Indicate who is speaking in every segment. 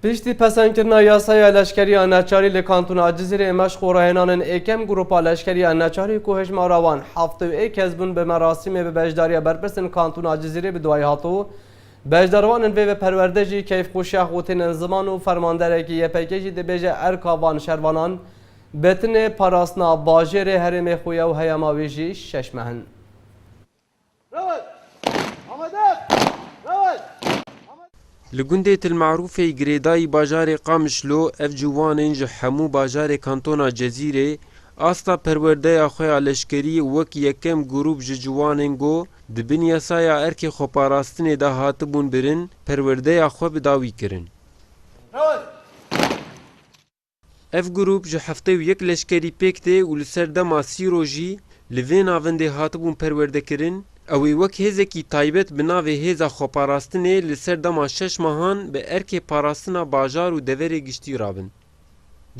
Speaker 1: Piştî pesendkirina yasaya leşkeriya neçarî li kantona Cizîrê me ji xwerahenanin êkem grûpa leşkeriya neçarî ku hejmara wan heft û ê kes bûn bi merasîmê bi beşdariya berpirsên kantona Cizîrê bi duayê hat û beşdarwanin vê bi perwerde jî keyfxweşiya xwe tênin ziman û fermanderekî YPG jî dibêje erka van şervanan bi tinê parastina bajêrê herêmê xwe ye û heyama wê jî şeş meh in. Li gundê Tilmarûfê girêdayî bajarê Qamişlo ev ciwanên ji hemû bajarê kantona Cezîrê asta perwerdeya xwe ya leşkerî wek yekem grûp ji ciwanên go di bin yasaya erkê xweparastinê de hatibûn birin perwerdeya xwe bi dawî kirin. Ev grûp ji heftê û yek leşkerî pêk tê û li ser dema sî rojî li vê navendê hatibûn perwerdekirin, ew ê wek hêzekî taybet bi navê Hêza Xweparastinê li ser dema şeş mehan bi erkê parastina bajar û deverê giştî re bin.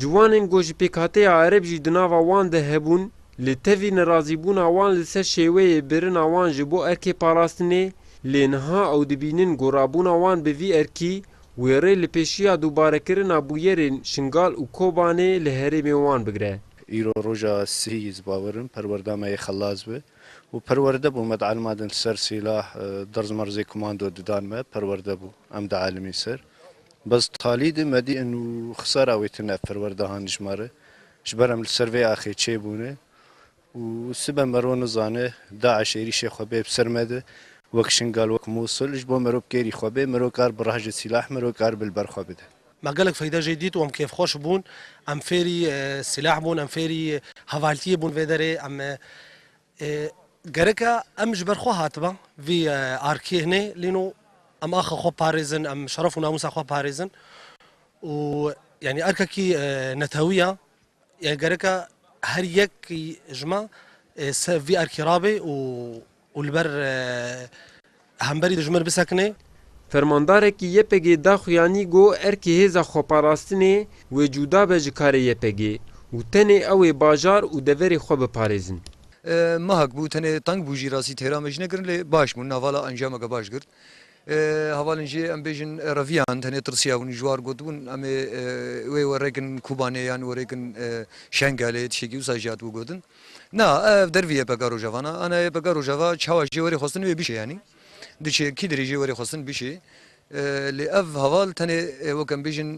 Speaker 1: Ciwanên ku ji pêkhateya ereb jî di nava wan de hebûn, li tevî nerazîbûna wan li ser şêweyê birina wan ji bo erkê parastinê, lê niha ew dibînin ku rabûna wan bi vî erkî, Wêrê li pêşiya dûbarekirina bûyerên Şingal û Kobanê li herêmê wan bigre. Îro roja sihî yê ez bawer im perwerda me yê xelas be û perwerde bû me dielma din ser sîlah derz merz ê komando didan me perwerde bû em dielimîn ser bes talî di me dîn û xisara wê tune ev perwerdehan dijmar e ji ber em li ser vê axê çêbûne Û sibe mero nizane DAIŞ êrîşê xwe bê bi ser me de wek Şingal, wek Mûsil ji bo mero bi kêrî xwe bê, mero kar bi rehjê sîlah mero kar bi li ber xwe bide. Me gelek feyde jê dît û em kêfxweş bûn. Em fêrî sîlah bûn, em fêrî hevaltiyê bûn vê derê. Em gerek e em ji ber xwe hatibe vî arkê hinê lîno em axa xwe parêzin, em şeref û namûsa xwe parêzin û yanî erkekî netewî ye Yani gereka her yek ji me ser vî erkê rabê û li ber hemberî ji min bisekinê. Fermandarekî YPG'ê daxu yanî got erkê hêza xweparastinê wê cûda be ji karê YPG û tenê ew ê bajar û deverê xwe biparêzin. Mehek bû, tenê teng bû jî rastî têra me jî ne kirin lê baş bûn. Nava la encameke baş girt. Hevalên jê em bêjin reviyan tenê tirsiya hûn ji war gotibûn em ê wê werêkin Kobanê yan werêkin Şengelê tiştekî wisa jî hatibû gotin. Na ev dervî YPG Rojava na ana YPG Rojava çawa jê werê xwestin wê bişê yanî di çêkî dirê jê werê xwestin bişê lê ev heval tenê wek em bêjin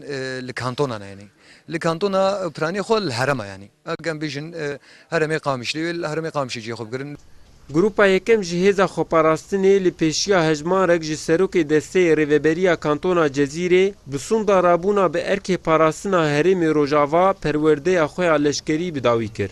Speaker 1: li kantonan e yanî Li kantona piranî xwe li herema yanî em bêjin heremê Qamişlî wê li heremê Qamişê cihê xwe bigirin. Grupa yekem ji hêza xweparastinê li pêşiya hejmarek ji serokê desteyê Rêveberiya Kantona Cezîrê bi sonda rabûna bi erkê parastina herêmê Rojava perwerdeya xwe ya leşkerî bi dawî kir.